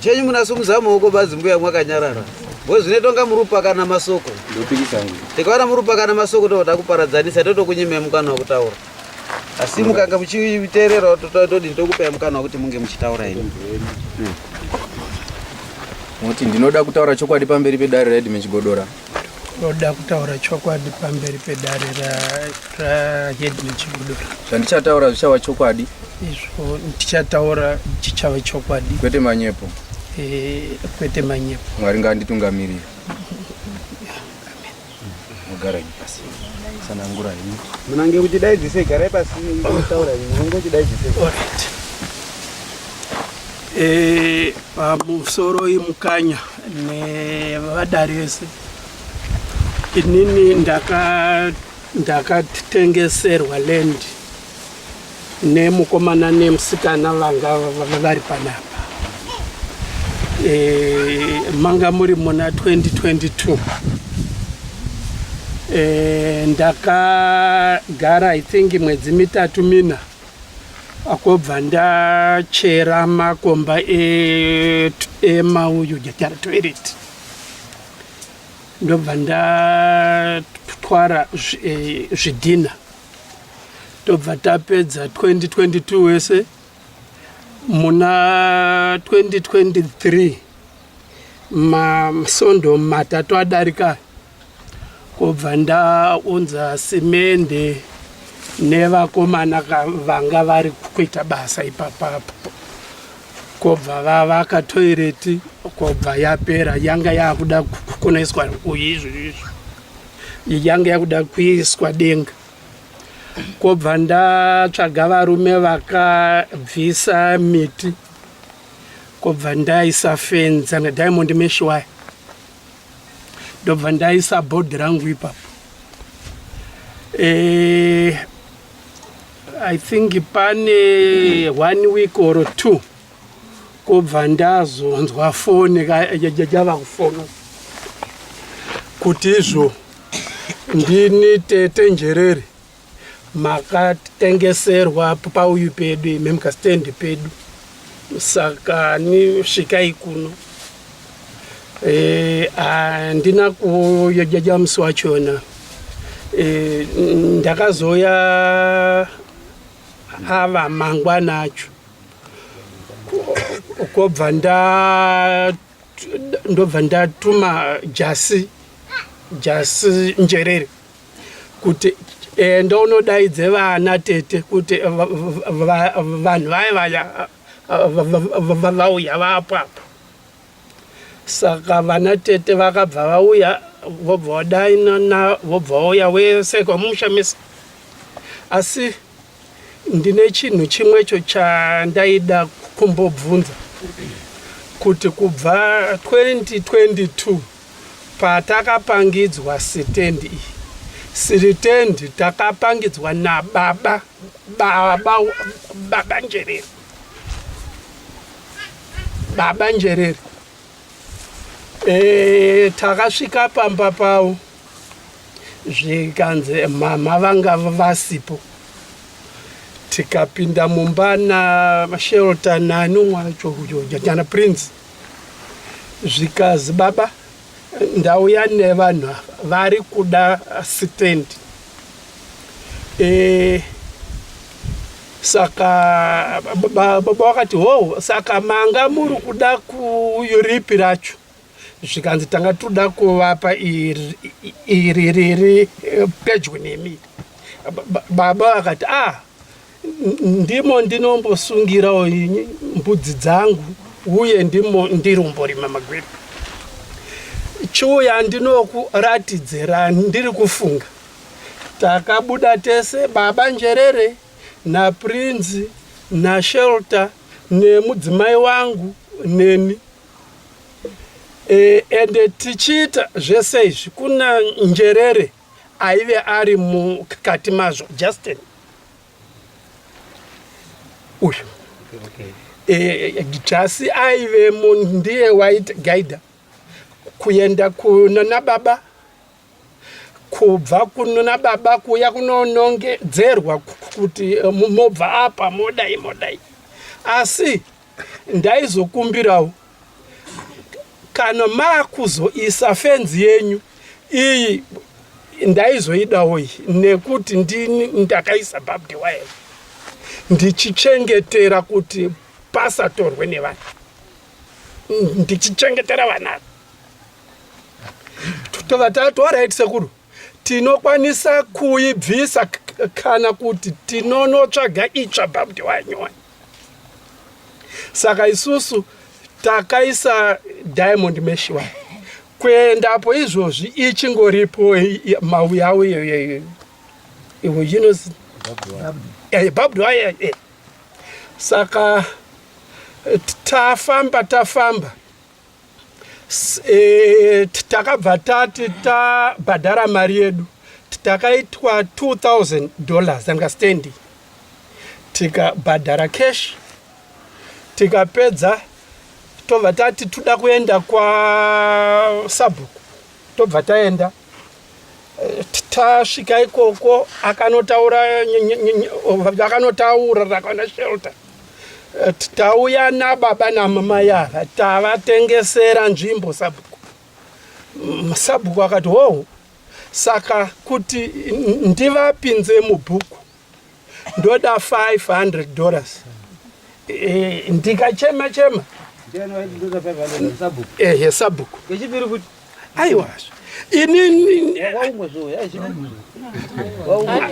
chenyu munasumudza maoko badzi mbuya mwakanyarara wezvine tonga murupakana masoko tikaona murupakana masoko toda kuparadzanisa totokunyimai mukana wekutaura asi mukanga muchiteerera todini tokupai mukana wekuti munge muchitaura ini moti ndinoda kutaura chokwadi pamberi pedare readmin chigodora Ndoda kutaura chokwadi pamberi pedare rahedman Chigudura. Zvandichataura zvichava chokwadi? Izvo ndichataura chichava chokwadi. Kwete manyepo? Eh, kwete manyepo. Mwari ngaanditungamirire. Mugara ini pasi. Sanangura ini. Munange kuti dai dzise garai pasi taura ini. Munange kuti dai dzise. All right. Eh, pamusoro imukanya. nevadari vese inini ndakatengeserwa ndaka land nemukomana nemusikana vanga vari panapa e, manga muri muna 2022 e, ndakagara i think mwedzi mitatu mina Akobva ndachera makomba ema uyu jatara toilet ndobva ndatwara eh, zvidhina tobva tapedza 2022 wese muna 2023 masondo matatu adarika Kobva ndaunza simende nevakomana vanga vari kuita basa ipapapo kobva vavaka toireti kobva yapera yanga yakuda kunoiswa izvoizvo yanga yakuda kuiswa denga kobva ndatsvaga varume vakabvisa miti kobva ndaisa fenza nediamond mesh waya ndobva ndaisa bhodhi rangu ipapo eh, i think pane one week or two kobva ndazonzwa foni yava kufona kuti izvo ndini tete njerere Makatengeserwa pauyu pedu imi mukastendi pedu saka ni svikai kuno eh, handina e, kuyojaja musi wachona e, eh, ndakazoya ava mangwana acho kobva nda ndobva ndatuma jasi jasi njerere kuti enda unodaidze vana tete kuti vanhu vaye vaya vauya vapo apo saka vana tete vakabva vauya vobva vadainana vobva vauya wese kwamusha mese asi Ndine chinhu chimwecho chandaida kumbobvunza kuti kubva 2022 patakapangidzwa sitendi iyi siritendi takapangidzwa nababa baba baba njerere baba njerere E, takasvika pamba pavo zvikanzi mhamha vanga vasipo tikapinda mumba nashelta nani umwe wacho jana prince zvikazi baba ndauya nevanhu ava vari kuda sitendi eh, saka baba vakati hoo saka manga muri kuda kuyoripi racho zvikanzi tanga tinoda kuvapa iri riri eh, pedyo nemi baba vakati ah ndimo ndinombosungirawo mbudzi dzangu uye ndimo ndirumborima magwiri chiuya ndinokuratidzira ndiri kufunga takabuda tese baba njerere naprinzi nashelter nemudzimai wangu neni e, ende tichiita zvese izvi kuna njerere aive ari mukati mazvo justin uyu eh, jasi aive ndiye waiti gaida kuenda kunana baba kubva kunona baba kuya kunonongedzerwa kuti eh, mobva apa modai modai asi ndaizokumbirawo kana makuzoisa fenzi yenyu iyi ndaizoidawo iyi nekuti ndini ndakaisa babdi wayo ndichichengetera kuti pasatorwe nevana ndichichengetera vana tova tati orit sekuru Tinokwanisa kuibvisa kana kuti tinonotsvaga itsva bhabdi wanyoni saka isusu takaisa diamond mesh wa kuendapo izvozvi ichingoripo mauyawo iyoyoyo inozi bhabdi waye saka tafamba tafamba E, takabva tati tabhadhara mari yedu takaitwa 2000 dollars understanding tikabhadhara cash tikapedza tobva tati toda kuenda kwasabhuku tobva taenda tasvika ikoko akanotaura akanotaura rakwana shelter eh, tauya nababa namamai ava tavatengesera nzvimbo sabhuku mm, sabhuku akati hoho saka kuti ndivapinze mubhuku ndoda 500 dollars eh, ndikachema chema ehe sabhuku aiwa inini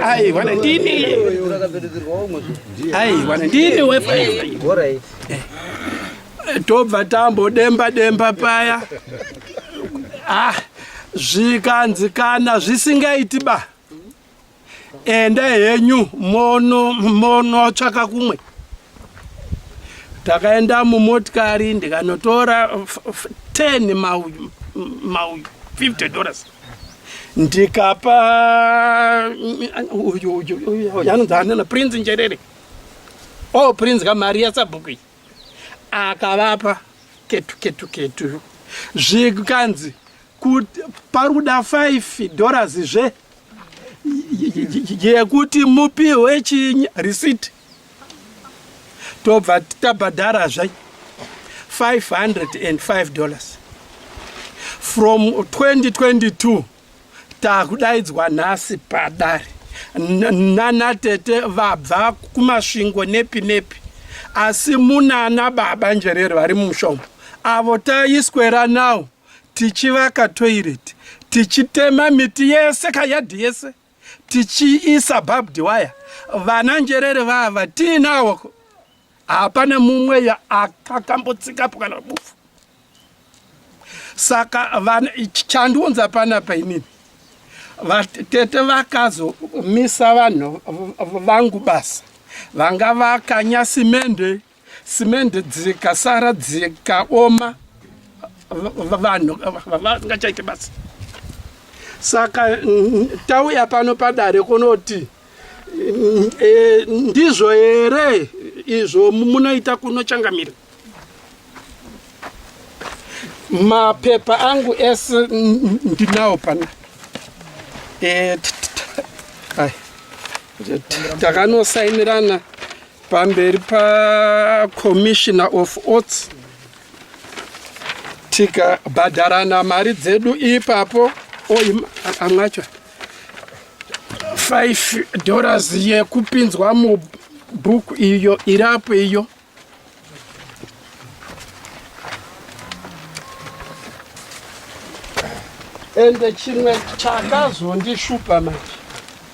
aiwa ndini aiwa ndini wefaii tobva tambodemba demba paya ah zvikanzi kana zvisingaiti ba enda henyu mono monotsvaka kumwe takaenda mumotikari ndikanotora 10 mauyu mauyu 50 dollars ndikapa uyu uyu uyu yanonzi anana prince njerere o oh, prince kamari yasabhuku iyi akavapa ketu ketu ketu zvikanzi pari kuda 5 dollars zve yekuti mupihwe chi receipt tobva tabhadhara zve 505 dollars from 2022 takudaidzwa nhasi padare nana tete vabva kumasvingo nepi nepi asi munana baba njerere vari mumushongo avo taiswera nawo tichivaka toilet tichitema miti yese kayadhi yese tichiisa barbed wire vana njerere vava tiinawo hapana mumwe akakambotsikapo kana rubufu saka vana chandiunza panapa inini vatete vakazomisa vanhu vangu basa vanga vakanya simende simende dzikasara dzikaoma vanhu vangachaite basa saka tauya pano padare kunoti e, ndizvo here izvo munoita kunochangamira mapepa angu ese ndinawo pana e, takanosainirana pamberi pacommissioner of oats tikabhadharana mari dzedu ipapo amwacho 5 dollars yekupinzwa mubhuku iyo irapo iyo ende chimwe chakazondishupa manje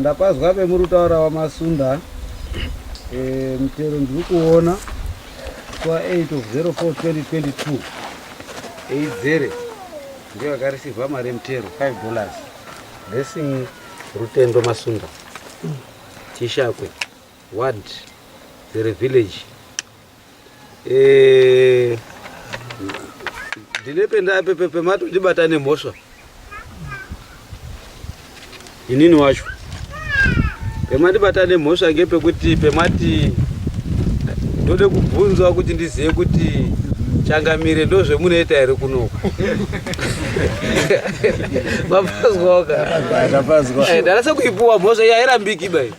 Ndapazwa vemuri kutaura wamasunda eh, mutero ndiri kuona kwa 8 of 04 2022 eidzere ndiyo yakarisirwa mari yemutero 5 dollars blessing rutendo masunda tishakwe ward zere village Eh, ndine pendapepepe matondibata nemhosva inini wacho pematibata nemhosva ngepekuti pemati ndode kubvunzwa kuti ndizive kuti changamire ndozvemunoita here kunoku mapazwaoka eh, ndarasa kuipuwa mhosva yairambiki bai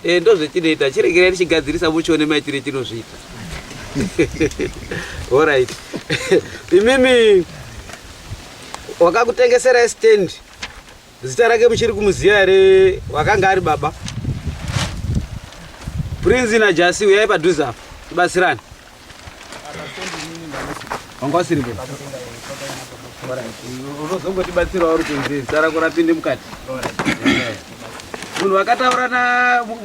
Eh, ndozvetinoita chiregerai tichigadzirisa muchione maitire tinozviita orit imimi wakakutengesera stand zita rake muchiri kumuziva here wakanga ari baba prinzi najasi uyai padhuze apa tibatsirani wanga usiripo unozongotibatsira uri kunzi sara kurapinde mukati munhu vakataura na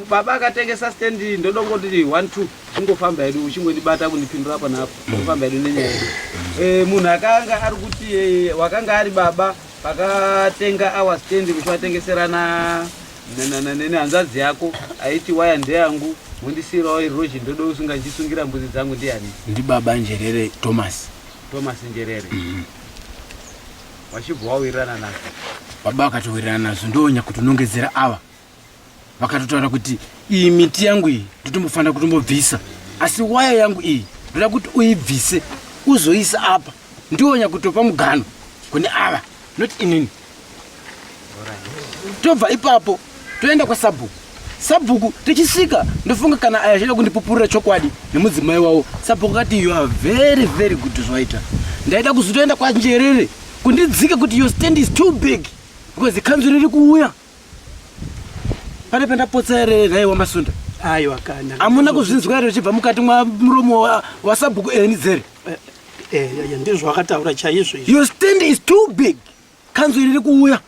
baba akatengesa stendi ndodongoti one two chingofamba yedu uchingondibata kundipindura apa naapo ofamba yedu nenyaya yedu eh, munhu akanga ari kuti eh, wakanga ari baba pakatenga awa stendi kuti vatengeserana Nanananene hanzvadzi yako aiti waya ndeyangu mondisiirawo iri rhozhi ndoda usunga ndichisungira mbuzi dzangu ndiani? Ndibaba Njerere Thomas. Thomas Njerere. Mm -hmm. Wachibva wawirirana nazvo. Baba vakatowirirana nazvo ndoonya kuti unongedzera ava. Vakatotaura kuti iyi miti yangu iyi ndotombofanira kutombobvisa. Asi waya yangu iyi ndoda kuti uibvise uzoisa apa. Ndoonya kutopa mugano kune ava not inini. tobva ipapo toenda kwasabhuku sabhuku tichisvika ndofunga kana aya zvaida kundipupurira chokwadi nemudzimai wavo sabhuku kati you are very very good zvaita ndaida kuzotoenda kwanjerere kundidzika kuti your stand is too big because ikhanzu riri kuuya pane pendapotsa here nhai wamasunda aiwa kana amuna kuzvinzwa here richibva mukati mwa muromo wasabhuku eni dzere eh, eh, eh, ndizvo akataura chaizvo your stand is too big kanzwi riri kuuya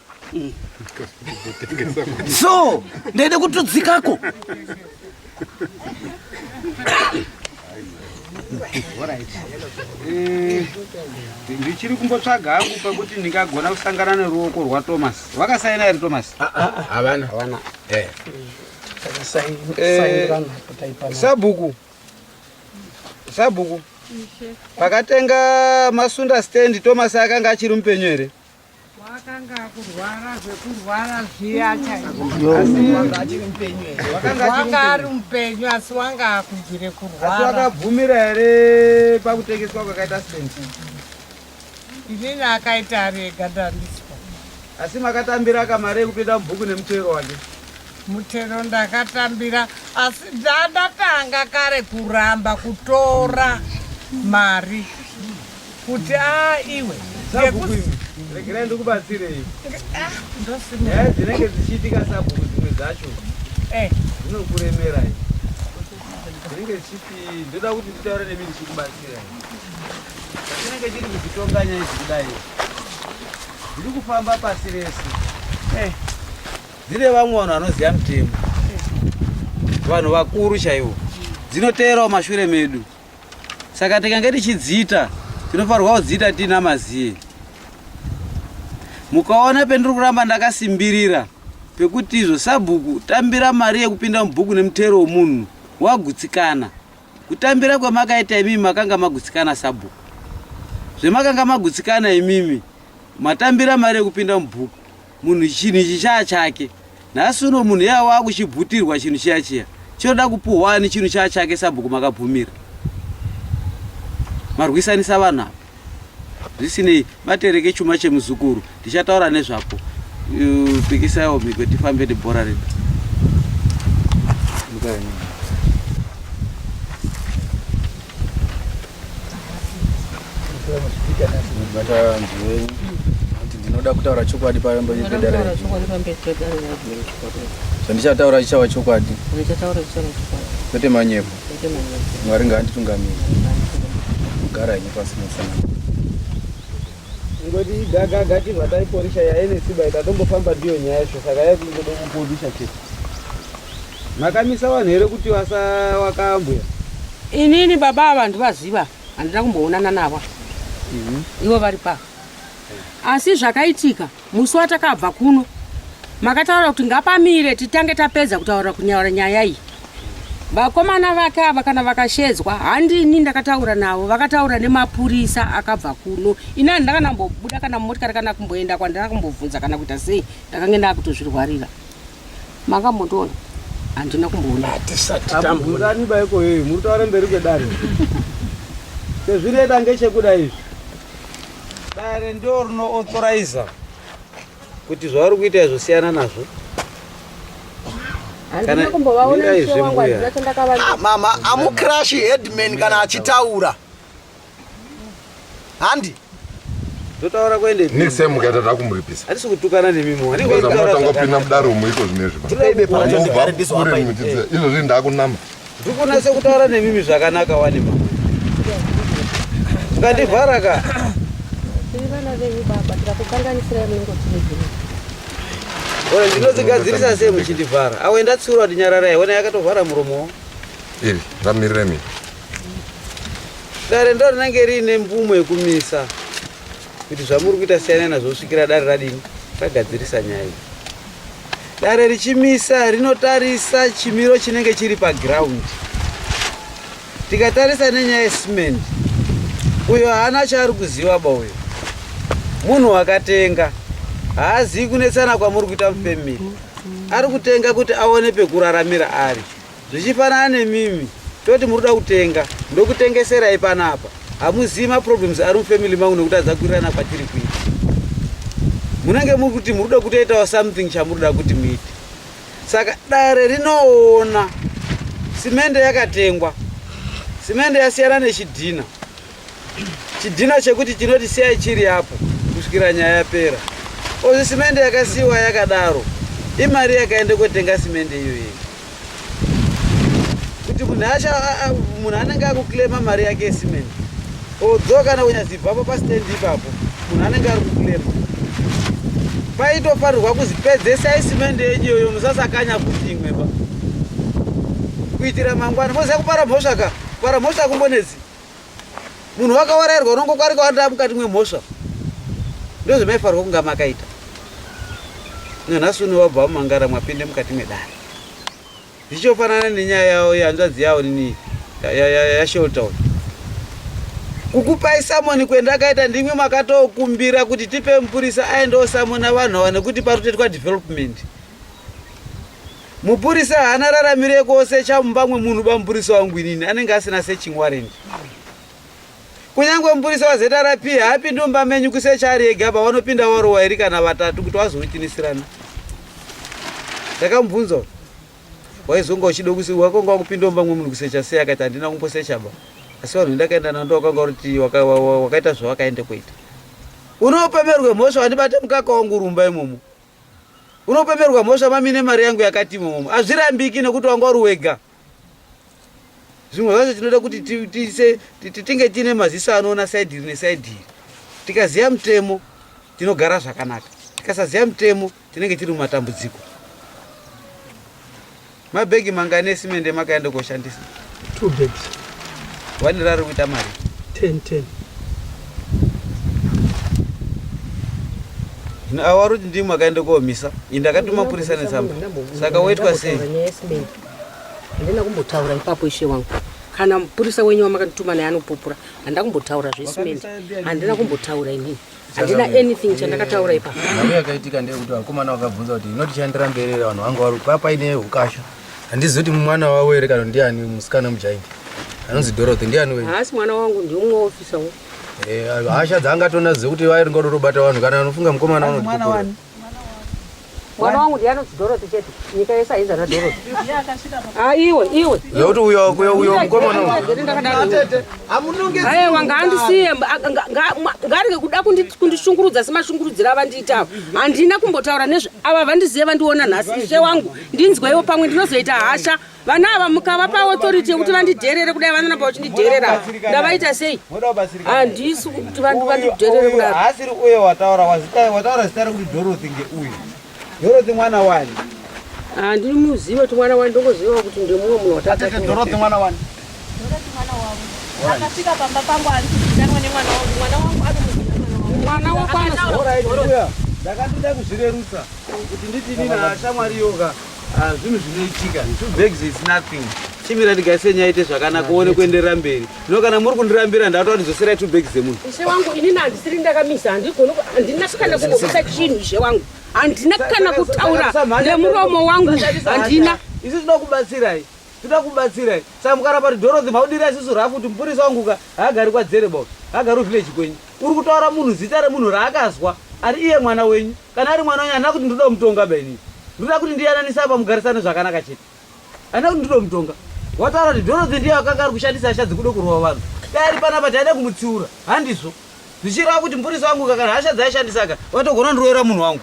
so ndaida kutudzikako eh, ndichiri kumbotsvaga hangu pakuti ndingagona kusangana neruoko rwatomas vakasaina here tomas havana eh. eh, sabhuku ah, ah, ah, Sabhuku. Pakatenga masunda stand Thomas akanga achiri mupenyu here? Wakanga kurwara zvekurwara zviya chaizvo. Asi wanga achiri mupenyu here? Wakanga ari mupenyu asi wanga akubvire kurwara. Asi wakabvumira here pakutengeswa kwakaita stand? Inini akaita ari ega ndandiswa. Asi makatambira kamari yekupinda mubhuku nemutero wake? Mutero ndakatambira asi ndatanga kare kuramba kutora mari kuti a iwe regerai ndikubatsirei ah, nyaya dzinenge dzichiitika sabhuku dzimwe dzacho eh. dzinokuremerai dzinenge dzichiti ndoda kuti nditaure nemi ndichikubatsirai Chinenge chiri kuchitonga nyaya idzi kudai dziri kufamba pasi rese eh. dzine vamwe vanhu vanoziva mutemo vanhu vakuru chaivo dzinoteerawo mashure medu saka tikange tichidziita tinofanirwa kudziita tiina maziye mukaona pendiri kuramba ndakasimbirira pekuti izvo sabhuku tambira mari yekupinda mubhuku nemutero wemunhu wagutsikana Kutambira kwamakaita imimi makanga magutsikana sabhuku. Zvemakanga magutsikana imimi matambira mari yekupinda mubhuku. Munhu chinhu ichi chaa chake. Nhasi uno munhu yava wakuchibhutirwa chinhu chiya chiya. Chinoda kupuhwa ani chinhu chaa chake sabhuku makabvumira. Marwisanisa vanhu ava. zvisinei batereke chuma chemuzukuru ndichataura nezvapo pikisaiwo mhiko tifambe nebhora redu ndinoda kutaura chokwadi pambezvandichataura chichava chokwadi kwete manyepo mwari ngaanditungamiri kugara henyu pasi musana ngoti gagaga chibva taiporisha yaive nesimba ikatombofamba ndiyo nyaya yacho saka yakungoda kuporisha chete makamisa vanhu here kuti vasa wakambwe inini baba ava ndivaziva handina kumboonana navo mhm. ivo vari pava asi zvakaitika Musi watakabva kuno makataura kuti ngapamire titange tapedza kutaura kunyaura nyaya iyi. Vakomana vake ava kana vakashedzwa handini ndakataura navo vakataura nemapurisa akabva kuno. Ini handina kana kumbobuda kana mumotikari kana kumboenda kwandina kumbobvunza kana kuita sei ndakange ndakutozvirwarira. makambotoona handina kumboona hatisati tambungani baiko yeye muri taura mberi kwedare sezvireda ngechekuda izvi dare ndo rino authorize kuti zvavari kuita izvo siyana nazvo mama amukrashi headman kana achitaura handi ndotaura kuende next time mukaita takumuripisa hatisi kutukana nemi muwanatangopinda mudaro muiko zvinezvivaure muchidza izvo zvinhu ndakunama ndikunase kutaura nemimi zvakanaka wani ma ngandivhara ka oe ndinozigadzirisa sei muchindivhara awe ndatsiura kuti nyararai wena yakatovhara muromo iri ndamiriremi dare ndo rinenge riine mvumo yekumisa kuti zvamuri kuita siyana nazvo kusvikira dare radini ragadzirisa nyaya iyi dare richimisa rinotarisa chimiro chinenge chiri paground tikatarisa nenyaya yecement uyo haana chaari kuziva ba uyo munhu wakatenga haazivi kunetsana kwamuri kuita mufemiri ari kutenga kuti aone pekuraramira ari Zvichifanana nemimi toti muri kuda kutenga ndokutengeserai panapa hamuzivi maproblems ari mufamily mangu nekuti adzakurirana kwatiri kuita munenge muri kuti muri kuda kutoitawo something chamuri da kuti muite saka dare rinoona simende yakatengwa simende yasiyana nechidhina chidhina chekuti chinoti siyai chiri apo kusvikira nyaya yapera ozi simende yakasiyiwa yakadaro imari yakaenda kotenga simende iyoyi kuti munhu asha munhu anenge akuclaima mari yake yesimende odzo kana kunyazibvapo pastendi ipapo munhu anenge ari kuclaima paitofanirwa kuzipedzesai simende yenyu iyoyo musasakanya kuti imweba kuitira mangwana moziva kupara mhosva ka kupara mhosva kumbonedzi munhu wakawarairwa unongokwarika wanda mukati mwemhosva ndozvemaifarwa kunga makaita nanhasi uno wabva mumangara mwapinde mukati mwedare zvichofanana nenyaya yawo yanzvadzi yawo nini yasheltown kukupai samoni kwenda akaita ndimwe makatokumbira kuti tipe mupurisa aendewo samona vanhu awa nekuti parutetwa development Mupurisa haana raramiro yekuosecha mumba mwemunhu ba mupurisa wangu inini anenge asina searching warrant. Kunyange mupurisa waZRP haapindi mumba menyu kusecha ari ega apa vanopinda waro wairi kana vatatu kuti vazonotinisirana. Ndakamubvunza waizonga uchida kusi wakonga wakupinda mumba mwemunhu kusecha sei akati handina kumbosecha ba asi vanhu ndakaenda nando wakanga kuti wakaita zvawakaenda kuita. Unopemerwe mhosva wandibate mukaka wangu rumba imomo. Unopeperwa mhosva mami nemari yangu yakati imomo. Hazvirambiki nekuti wanga uri wega. Zvimwe zvacho tinoda kuti tinge tiine maziso anoona saidi iri nesaidi iri. Tikaziva mutemo tinogara zvakanaka. Tikasaziva mutemo tinenge tiri mumatambudziko. Mabhegi mangani esimende makaenda koshandisa? Two bags. Wani rari kuita mari? Ten, ten. Hino awa vari kuti ndimi makaenda komisa. Ini ndakatuma purisa netsamba. Saka woitwa sei? Handina kumbotaura ipapo ishe wangu. Kana mupurisa wenyu wamakatituma naye anopupura. Handina kumbotaura zvesimende. Handina kumbotaura inini. handina anything chandakataura ipa navo yakaitika ndeyekuti vakomana vakabvunza kuti inoti chandira mberi here vanhu vanga vari papa ine ukasha handizi kuti mwana wavo here kana ndiani musikana mujaidi anonzi dorothy ndiani wenyu haasi mwana wangu ndiumwe wofisawo eh, hasha dzaangatonazive kuti vairi ngodo robata vanhu kana anofunga mukomana anodii mwana wangu ndiye anonzi dorothy chete nyika yese ainzi ana dorothy ah, iwe iwe zvokuti uyo uyo uyo mukomana aiwa ngaandisiye ngarege kuda kundishungurudza semashungurudzira avandiita avo handina kumbotaura nezve ava vandizive vandiona nhasi ishe wangu ndinzweiwo pamwe ndinozoita hasha vana ava mukavapa authority yekuti vandidherere kudai vanoramba vachindidherera ndavaita sei handisi kuti vandidherere kudai haasiri uye wataura wataura zita rekuti dorothy ngeuyu dorothy mwana wani handiri muzive kuti mwana wani ndongoziva kuti ndemumwe munhu wataadorothy mwana wani akasvika pamba pangu ari kuzitanwa nemwana wangu mwana wangu ari mwana wako anodakatida kuzvirerutsa kuti nditini nashamwari yoga Ah, zvinhu zvinoitika two bags is nothing chimira ndigaise nyaya ite zvakanaka uone ah, kuenderera mberi no kana muri kundirambira ndatoa ndidzoserai two bags dzemunhu ishe wangu inini handisiri ndakamisa handina kana kuisa chinhu ishe wangu handina kana kutaura nemuromo wangu handina isi tinoda kubatsirai tinoda kubatsirai saka mukaramba kuti dorothy maudira isisu rafu kuti mupurisa wanguka haagari kwadzere bo haagari uvillage kwenyu uri kutaura munhu zita remunhu raakazwa ari iye mwana wenyu Kana ari mwana wenyu handina kuti ndinoda kumutonga ba inini. Ndinoda kuti ndiyananise apa mugarisane zvakanaka chete. Handina kuti ndinoda kumutonga. Wataura kuti Dorothy ndiye akanga ari kushandisa hasha dzekuda kurova vanhu. Dai ari panapa taida kumutsiura. Handizvo. Zvichireva kuti mupurisi wangu kana hasha dzaishandisa aka watogona ndiroera munhu wangu.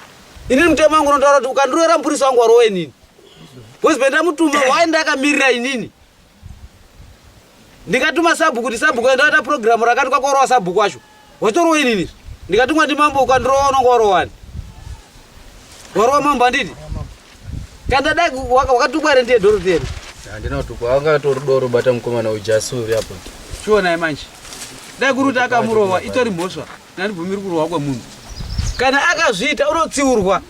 Inini mutemo wangu unotaura kuti ukandiroera mupurisi wangu warova inini. Husband amutuma why ndakamirira inini? ndikatuma sabhuku kuti sabhuku endaita purogiramu rakati kwakorowa sabhuku wacho watorowa inini ndikatumwa ndimambo ukandirowa unonga warowani warowa mambo anditi kandadai wakatukwa here ndiye doro tiyeni handina tukwa wanga tori doro bata mukomana ujasi uri apo chionai manje dai kuri kuti akamurowa itori mhosva nandibvumiri kurohwa kwemunhu kana akazviita unotsiurwa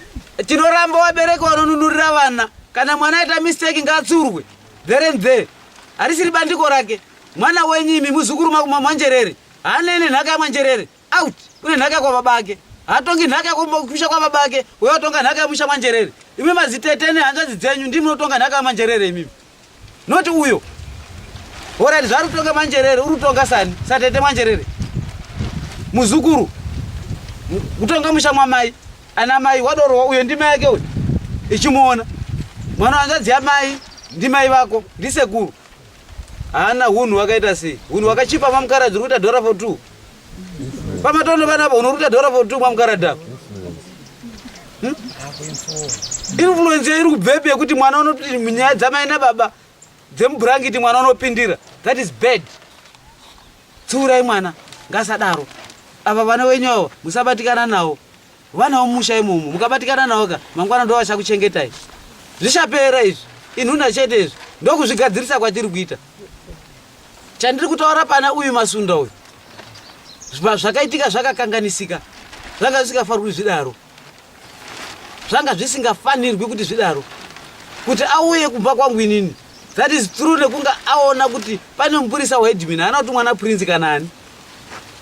tinoramba wabereka wanonunurira vana kana mwana aita mistake ngaatsiurwe There and there. Harisiri bandiko rake. Mwana wenyu imi muzukuru makuma mwanjerere. Haane ine nhaka yamwanjerere. Out. Une nhaka kwa baba ake. Hatongi nhaka kumusha kwa baba ake. Wewe watonga nhaka yamusha mwanjerere. Imi mazitete ne hanzvadzi dzenyu ndimi munotonga nhaka yamwanjerere imi. Not uyo. Ora zvaru tonga mwanjerere, uri tonga sani. Satete mwanjerere. Muzukuru. Kutonga musha mwamai. Ana mai wadorowa uyo ndimai yake uyo ichimuona mwana wanzvadzi yamai ndimai vako ndisekuru haana hunhu wakaita sei hunhu wakachipa mamukaradzi uri kuita dhora for two pamatono vanapa hunhu uri kuita dhora for two mamukaradzi apa hmm? influence iri kubvepi yekuti mwana unoti nyaya dzamai nababa dzemubhurangiti mwana unopindira that is bad Tsiurai mwana ngasadaro. Ava vana wenyu avo musabatikana nawo. Vana vomusha imomo mukabatikana nawo ka mangwana ndo vachakuchengetai. Zvichapera izvi inhunda chete izvi ndokuzvigadzirisa kwatiri kuita. Chandiri kutaura pana uyu masunda uyu zvakaitika zvakakanganisika zvanga zvisingafarwi zvidaro. zvanga zvisingafanirwi kuti zvidaro kuti auye kumba kwangu inini that is true nekunge aona kuti pane mupurisa waedmin haana kuti mwana prince kana ani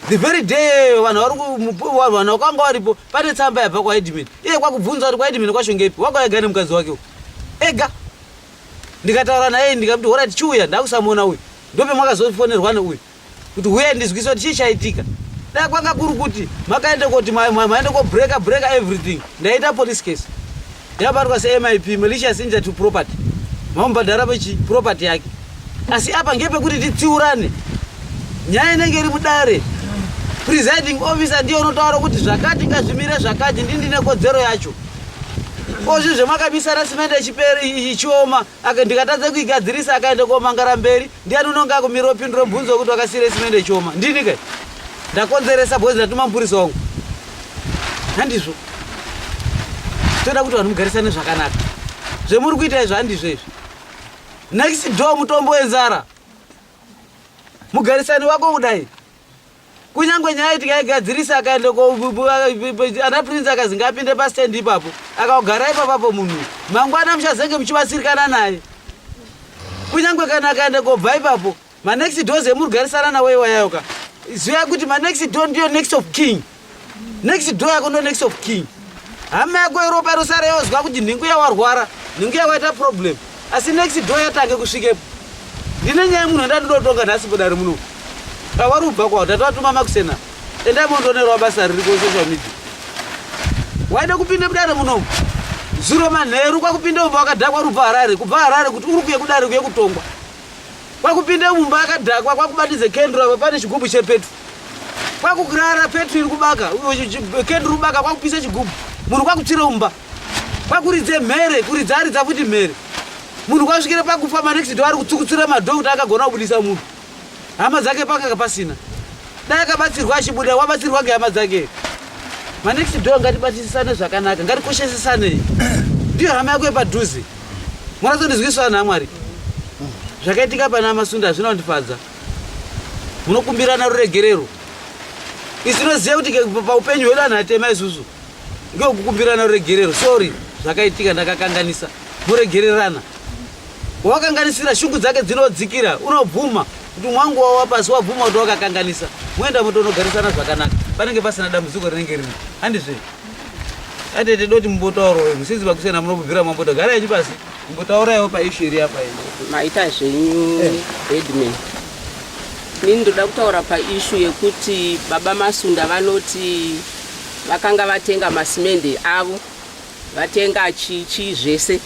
the very day vanhu varivanhu vakanga varipo pane tsamba yabva kwaedmin iye kwakubvunza kuti kwaedmin kwashongepi wakaega nemukadzi wake u ega ndikataura naye ndikakuti horit chiuya ndakusamuona uyu ndope mwakazofonerwa neuyu kuti huye ndizwise kuti chii chaitika dai kwanga kuri kuti makaenda koti maenda kobreaker breaker everything ndaita police case yabatwa semip malicious injury to property mamubhadhara pechi property yake asi apa ngepekuti titsiurane nyaya inenge iri mudare presiding officer ndiye unotaura kuti zvakati ngazvimire zvakati ndi ndine kodzero yacho ozvi zvemakamisana simende ichioma aka ndikatadza kuigadzirisa akaenda komangara mberi ndiani unonge akumira opindura mubvunzo wekuti wakasiira isimende choma ndini kai ndakonzeresa bhozi ndatuma mupurisa wangu handizvo toda kuti vanhu mugarisane zvakanaka zvemuri kuita izvo handizvo izvi next door mutombo wenzara mugarisani wako kudai kunyange nyaya iti yaigadzirisa akaenda ana prince akazi ngaapinde pastand ipapo akagara ipapapo munhu mangwana muchazenge muchibatsirikana naye kunyange kana akaenda kobva ipapo manext doors emurugarisana nawo iwayayoka ziva kuti manext do ndiyo next of king next door yako ndo next of king hama yako yeropa rosara yozwa kuti nhingu yawarwara nhingu yakaita problem asi next door yatange kusvikepo ndine nyaya munhu andandinotonga nhasi bodari muno awari ubva kwao tatowatuma makusena endai mondonerwa basa riri kosocial media waida kupinde mudare munomu zuro manheru kwakupinde mumba wakadhakwa uri ubva harare kubva harare kuti uri kuye kudare kuye kutongwa kwakupinde mumba akadhakwa kwakubatize kendro apa pane chigubhu chepetwa kwakukurara petro iri kubaka kendri rubaka kwakupisa chigubhu munhu kwakutsira umba kwakuridze mhere kuridza aridza futi mhere munhu kwasvikira pakufa manext do ari kutsukutsira madho kuti akagona kubudisa munhu hama dzake pakanga pasina dai akabatsirwa achibuda wabatsirwa ngehama dzake manext do ngatibatisisane zvakanaka ngatikoshesesane ndiyo hama yako yepadhuze mwana tondizwisana namwari zvakaitika pana masunda hazvina kundifadza munokumbirana ruregerero isu tinoziva kuti paupenyu hwedu anhu atema isusu ngeokukumbirana ruregerero sorry zvakaitika ndakakanganisa muregererana wawakanganisira shungu dzake dzinodzikira unobvuma kuti mwangu wawa pasi wabvuma kuti wakakanganisa moenda mutonogarisana zvakanaka panenge pasina dambudziko rinenge rino handizve atete doti mumbotauroi musinzi vakusena munobvira mamboda gara yanyu pasi Mbotauraiwo paishu iri apa iri. Maita zvenyu eh. headman. Ini ndoda kutaura paishu yekuti baba Masunda vanoti vakanga vatenga masimende avo vatenga chichi zvese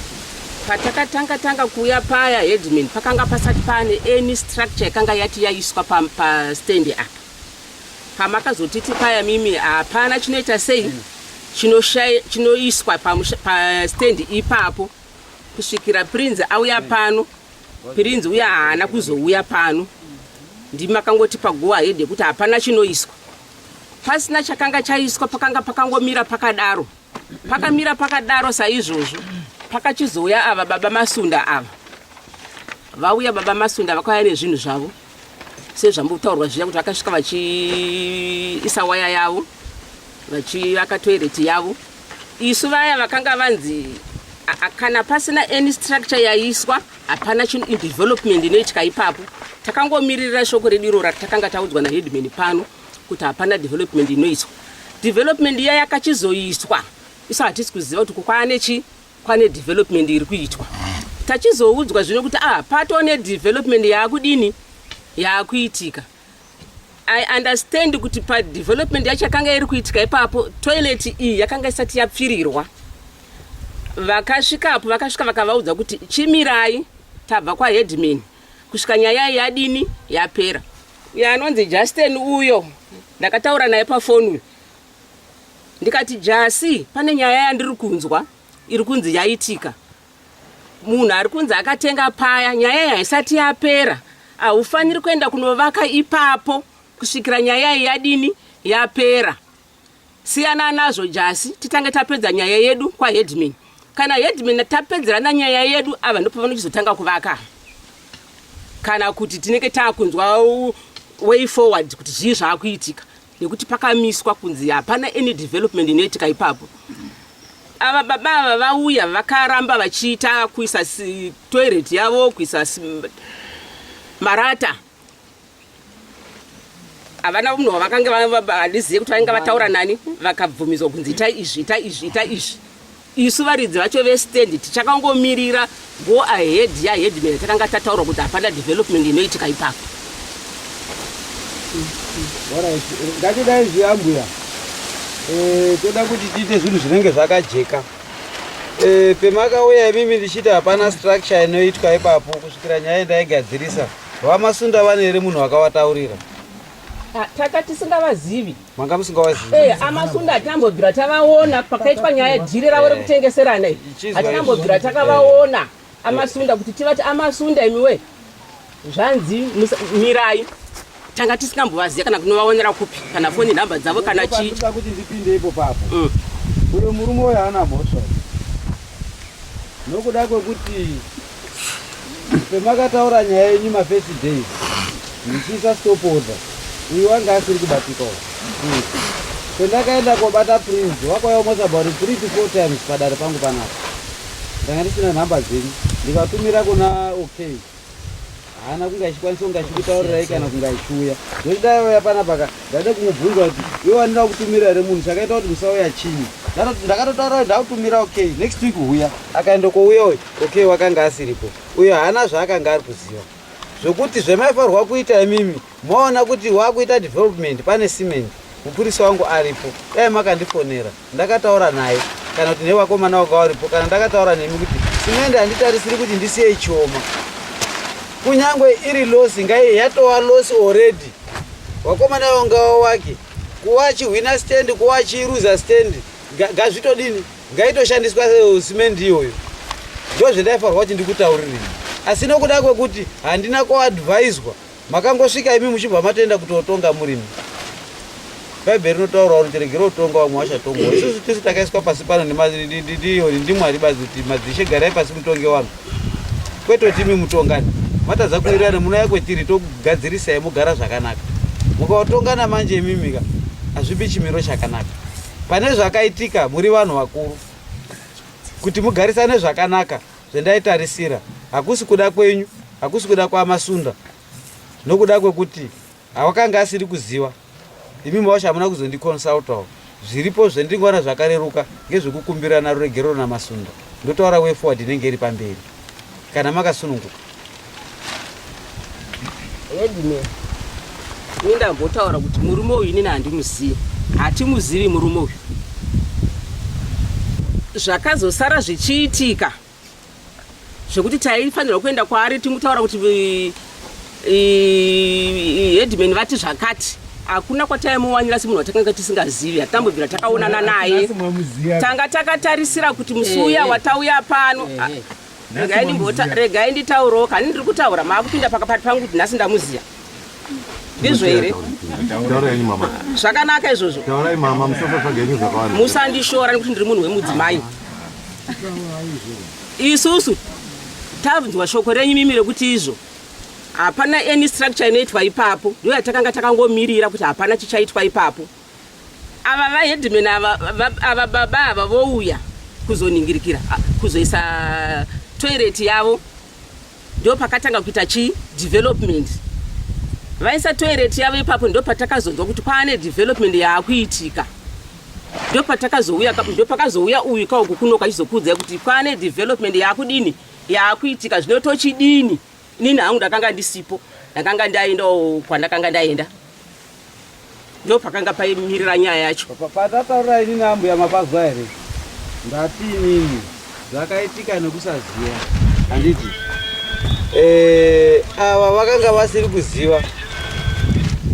patakatanga tanga kuuya paya headman pakanga pasati pane any structure yakanga yati yaiswa pastendi apa pamakazotiti paya mimi hapana chinoita sei chinoiswa pastendi ipapo kusvikira prinzi auya pano prinzi uya haana kuzouya pano ndimi makangoti pagoa hede kuti hapana chinoiswa pasina chakanga chaiswa pakanga pakangomira pakadaro pakamira pakadaro saizvozvo pakachizouya ava baba masunda ava vauya baba masunda vakauya nezvinhu zvavo sezvambotaurwa zviya kuti vakasvika vachiisa waya yavo vachivaka toireti yavo isu vaya vakanga vanzi kana pasina any structure yaiswa hapana development inoitika ipapo takangomiririra shoko redu irora takanga taudzwa naheadman pano kuti hapana development inoiswa development iya yakachizoiswa isu hatisi kuziva kuti kukwane chii pane development iri kuitwa tachizoudzwa zvino kuti ah pato ne development yaakudini yaakuitika i understand kuti pa development yacho yakanga iri kuitika ipapo toilet iyi yakanga isati yapfirirwa vakasvikapo vakasvika vakavaudza kuti chimirai tabva kwaheadman kusvika nyaya iyi yadini yapera yanonzi justen uyo ndakataura naye pafoni uyo ndikati jasi pane nyaya yandiri kunzwa iri kunzi yaitika munhu ari kunzi akatenga paya nyaya iyi haisati yapera haufaniri kuenda kunovaka ipapo kusvikira nyaya iyi yadini yapera siyana nazvo jasi titange tapedza nyaya yedu kwaheadman kana headman tapedzerana nyaya yedu ava ndopavanochizotanga kuvaka kana kuti tinenge taakunzwa way forward kuti zvii zvaakuitika nekuti pakamiswa kunzi hapana any development inoitika ipapo ava baba ava vauya vakaramba vachiita kuisa toilet yavo kuisa marata havana munhu wavakange handizive kuti vainge vataura nani vakabvumidzwa kunzi ita izvi ita izvi ita izvi Isu varidzi vacho vestand tichakangomirira go ahead yaheadman yatakanga tataurwa kuti hapana development inoitika ipapo. Ngatidai zviya mbuya, eh, toda kuti tiite zvinhu zvinenge zvakajeka. Eh, pemakauya imimi ndichiti hapana structure inoitwa ipapo kusvikira nyaya ndaigadzirisa vamasunda vane here munhu wakavataurira? Ah, tata tisingavazivi manga musingawazivi hey, eh, amasunda hatinambobvira tavaona pakaitwa nyaya yedhiri ravo rekutengeserana iyi eh, hatinambobvira takavaona eh. amasunda kuti tivati amasunda imiwe zvanzi mirai tanga tisingambovaziva kana kunovaonera kupi kana foni nhamba dzavo kana chii kuti ndipinde ipo papo mm. uyo murume uyo haana mhosva nokuda kwekuti Pemakataura nyaya yenyu ma first days ndichiisa stop order uyu wange asiri kubatika uyu. Pendakaenda kobata Prince wakwaya almost about 3 to 4 times padare pangu panapa. Ndanga ndisina nhamba dzenyu ndikatumira kuna okay. haana kunge achikwanisa kunge achikutaurirai kana kunge achiuya zvekuti dai auya panapa ka ndaida kumubvunza kuti iwe wandida kutumira here munhu chakaita kuti musauya chinyi ndakatotaura kuti ndakutumira okay next week huya akaenda kouya uyu okay wakanga asiripo uyo haana zvaakanga ari kuziva zvokuti zvemaifarwa kuita imimi Maona kuti wakuita development pane cement mupurisa wangu aripo dai makandifonera ndakataura naye kana kuti nevakomana wanga waripo kana ndakataura nemi kuti cement handitarisiri kuti ndisiye chioma kunyange iri losi ngai yatova losi already vakomana vanga wake kuva chihwina stand kuva chiruza stand gazvitodini ngaitoshandiswa eh, cement iyoyo ndozvendaifarwa kuti ndikutauririi asi nokuda kwekuti handina kuadviswa Makangosvika imi muchibva matoenda kutotonga murimi. Bhaibheri rinotaura kuti tiregere kutonga vamwe vachatongwa. Isusu tisu takaiswa pasi pano ndimwari bazi kuti madzishe garai pasi mutonge vanhu. Kwete kuti imi mutongani. Matadza kuwirirana munouya kwetiri tokugadzirisai mugara zvakanaka. Mukaotongana manje imimika hazvipi chimiro chakanaka. Pane zvakaitika muri vanhu vakuru kuti mugarisane zvakanaka zvendaitarisira hakusi kuda kwenyu hakusi kuda kwamasunda nokuda kwekuti hawakanga asiri kuziva imi mawasha hamuna kuzondiconsultawo zviripo zvendingoona zvakareruka ngezvekukumbirana ruregerero namasunda ndotaura way forward inenge iri pamberi kana makasununguka Headman, ini ndambotaura kuti murume uyu inini handimuzivi, hatimuzivi murume uyu. Zvakazosara zvichiitika zvekuti taifanirwa kuenda kwaari timutaura kuti headman vati zvakati hakuna kwataimuwanira semunhu watakanga tisingazivi hatambobvira takaonana naye tanga takatarisira kuti musi uya eh, eh. watauya pano eh, regai nditaurewo kani ndiri kutaura maakupinda pakapati pangu kuti nhasi ndamuziva ndizvo here zvakanaka izvozvo musandishora nekuti ndiri munhu wemudzimai isusu tanzwa shoko renyu mimi rekuti izvo hapana any structure inoitwa ipapo ndoyatakanga takangomirira kuti hapana chichaitwa ipapo ava vaheadman ava ava baba ava vouya kuzoningirikira kuzoisa toilet yavo ndo pakatanga kuita chi development vaisa toilet yavo ipapo ndo patakazonzwa kuti kwaane development yaakuitika ndo patakazouya ndo pakazouya uyu kauku kuno kachizokuudzai kuti kwaane development yaakudini yaakuitika zvino tochidini Nini hangu ndakanga ndisipo, ndakanga ndaendawo kwandakanga ndaenda. Ndo pakanga paimirira nyaya yacho. Patataura ini naambuya mapazwa here? Ndati nini zvakaitika nekusaziva handiti? Eh, ava vakanga vasiri kuziva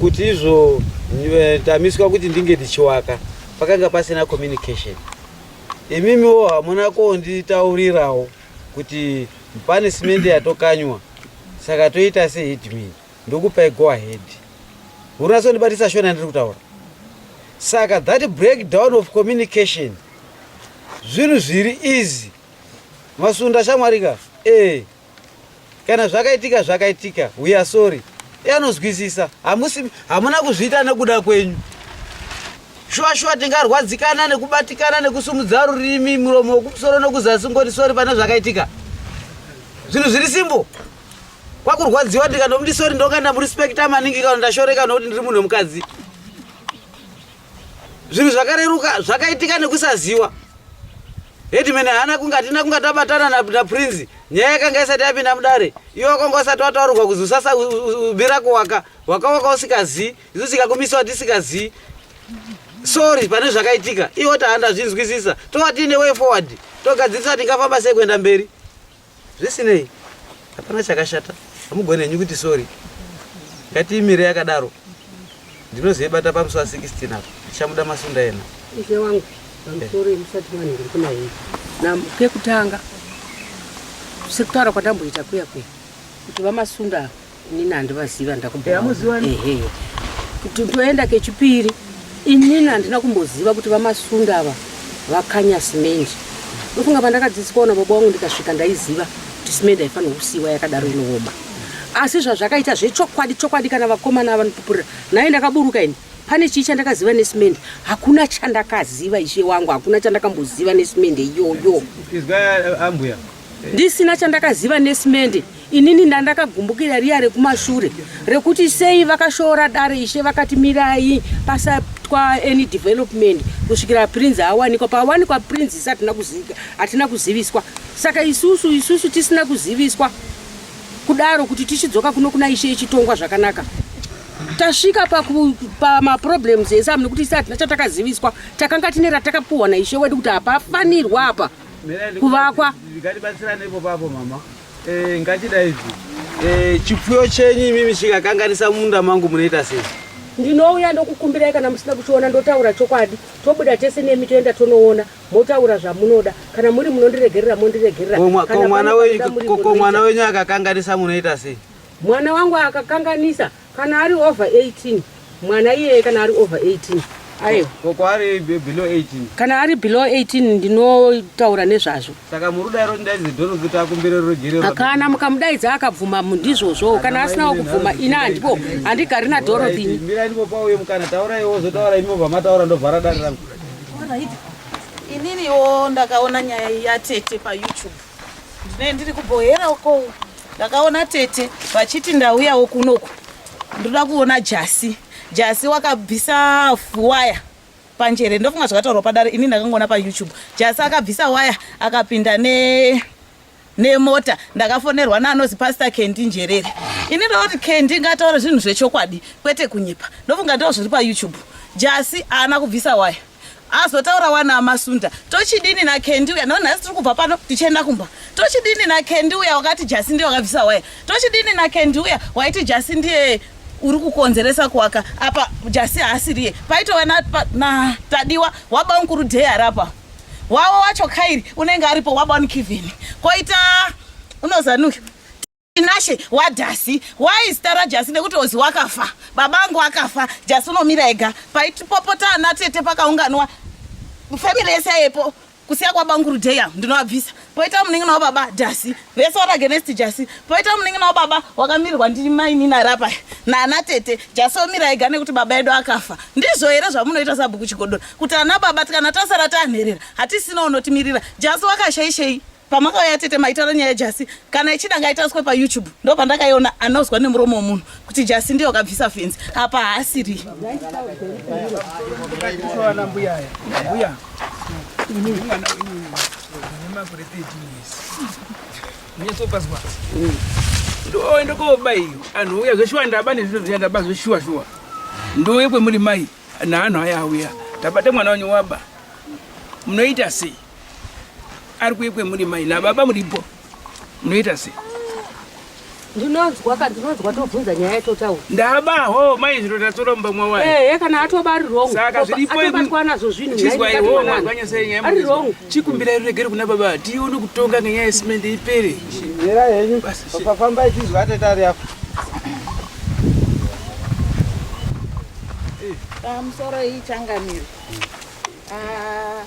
kuti izvo eh, tamiswa kuti ndinge ndichiwaka pakanga pasina communication imimiwo hamuna konditaurirawo kuti punishment yatokanywa saka toita se headman ndokupai go ahead hurina sondibatisa shona ndiri kutaura saka that breakdown of communication zvinhu zviri easy masunda shamwarika e eh, kana zvakaitika zvakaitika we are sorry anozwisisa hamusi hamuna kuzviita nekuda kwenyu shuwa shuwa tingarwadzikana nekubatikana nekusumudza rurimi muromo wekumusoro nekuzasi ngoti sori pane zvakaitika zvinhu zviri simbo kwakurwadziwa ndikanomuti sori ndonga ndamurespekta maningi kana ndashoreka nokuti ndiri munhu wemukadzi zvinhu zvakareruka zvakaitika nekusaziwa headman haana kunge hatina kunge tabatana naprince nyaya yakanga isati yapinda mudare iwe wakanga usati wataurirwa kuzi usasa bira kuwaka wakawaka usikazii isu tikakumisiwa tisikazii sorry pane zvakaitika iwe tahandazvinzwisisa tova tiine way forward togadzirisa tingafamba sei kuenda mberi zvisinei hapana chakashata hamugoni henyu kuti sorry ngatiimire yakadaro ndinozoibata pamusi wa 16 apo ndichamuda masunda ena ishe wangu pamusoro yemusati vanhu ndiri kuna hii kekutanga sekutaura kwandamboita kuya kuya kuti vamasunda ava inini handivaziva ndakubamuziva ehe kuti ndoenda kechipiri inini handina kumboziva kuti vamasunda ava vakanya simendi ndofunga pandakadzidziswa ona baba wangu ndikasvika ndaiziva kuti simendi haifanirwa kusiiwa yakadaro inooma asi zvazvakaita zvechokwadi chokwadi kana vakomana avanopupurira naye ndakaburuka ini pane chii chandakaziva nesimende hakuna chandakaziva ishe wangu hakuna chandakamboziva nesimende iyoyo izwa ambuya ndisina chandakaziva nesimende inini ndandakagumbukira riya rekumashure rekuti sei vakashora dare ishe vakati mirai pasatwa any development kusvikira prince awanikwa paawanikwa prince isu hatina kuzika hatina kuziviswa saka isusu isusu tisina kuziviswa kudaro kuti tichidzoka kuno kuna ishe ichitongwa zvakanaka tasvika pamaproblems pa esamu nekuti isu hatina chatakaziviswa takanga tine ratakapuhwa naishe wedu kuti hapafanirwa apa pa kuvakwa ndikatibatsirane ipo papo mama eh, ngatida izvi eh, chipfuyo chenyu imimi chikakanganisa munda mangu munoita sei ndinouya ndokukumbirai kana musina kuchiona ndotaura chokwadi tobuda tese nemi toenda tonoona motaura zvamunoda kana muri munondiregerera mondiregerera ko mwana wenyu akakanganisa munoita sei mwana wangu akakanganisa Kana ari over 18 mwana iyeye kana ari over 18 aiwa ko kwaari be- below 18 kana ari below 18 ndinotaura nezvazvo saka muri kudaira kuti ndaidze doro kuti akumbire ruregerero kana mukamudaidza akabvuma mu- ndizvozvowo kana asinawo kubvuma ini handipo handigari nadorothy ini mirai ndipopa uye mukana taurai wozotaura imi mobva mataura ndovhara dare rangu ininiwo ndakaona nyaya yatete payoutube ndine ndiri kubohera uko ndakaona tete vachiti ndauyawo kunoku ndoda kuona jasi jasi wakabvisa waya panjere ndofunga zvakataurwa padare ini ndakangoona payoutube jasi akabvisa waya akapinda ne nemota ndakafonerwa naanozi pastor kendi njerere ini ndoti kendi ngataura zvinhu zvechokwadi kwete kunyepa ndofunga ndoo zviri payoutube jasi haana kubvisa waya azotaura wana amasunda tochidini na kendi uya no nhasi tiri kubva pano tichienda kumba tochidini na kendi uya wakati jasi ndiye wakabvisa waya tochidini na kendi uya waiti jasi ndiye uri kukonzeresa kuwaka apa jasi haasiriye paitova na, na tadiwa waba mukuru dhei arapa wavo wacho kairi unenge aripo waba nikivhini koita unozanuki Tinashe wadhasi why zita rajasi nekuti ozi wakafa baba angu akafa jasi unomira ega paitipopota ana tete pakaunganwa family yese yepo kusiya kwabanguru deya ndinovabvisa poita muningi navo baba jasi vese vari agenest jasi poita muningi navo baba wakamirirwa ndiri mainina rapa naana tete jasi omira ega nekuti baba edu akafa ndizvo here zvamunoita sabhuku chigodora kuti ana baba tikana tasara tanherera hatisina unotimirira jasi wakashaishei pamakauya tete maitaura nyaya jasi kana ichida ngaitariswe payoutube ndo pandakaiona anozwa nemuromo wemunhu kuti jasi ndiyo akabvisa fenzi apa haasiri ndoenda koba iyo anhu uya zveshuwa ndaba nezvinhu zviya ndaba zveshuwa shuwa ndouye kwemuri mai naanhu aya auya tabata mwana wenyu waba munoita sei ari kuye kwemuri mai nababa muripo munoita sei ndinonzwa ka ndinonzwa tobvunza nyaya yatotaura ndabaho mai zviro tatoromba mwawa ehe kana atoba ari wrong saka zviripoatobatwa nazvo zvinhu ari wrong chikumbirai ruregere kuna baba tione kutonga ngenyaya yesimende ipere mira henyu pafambai tizwa atetari apo pamusoro ah, ichangamire ah.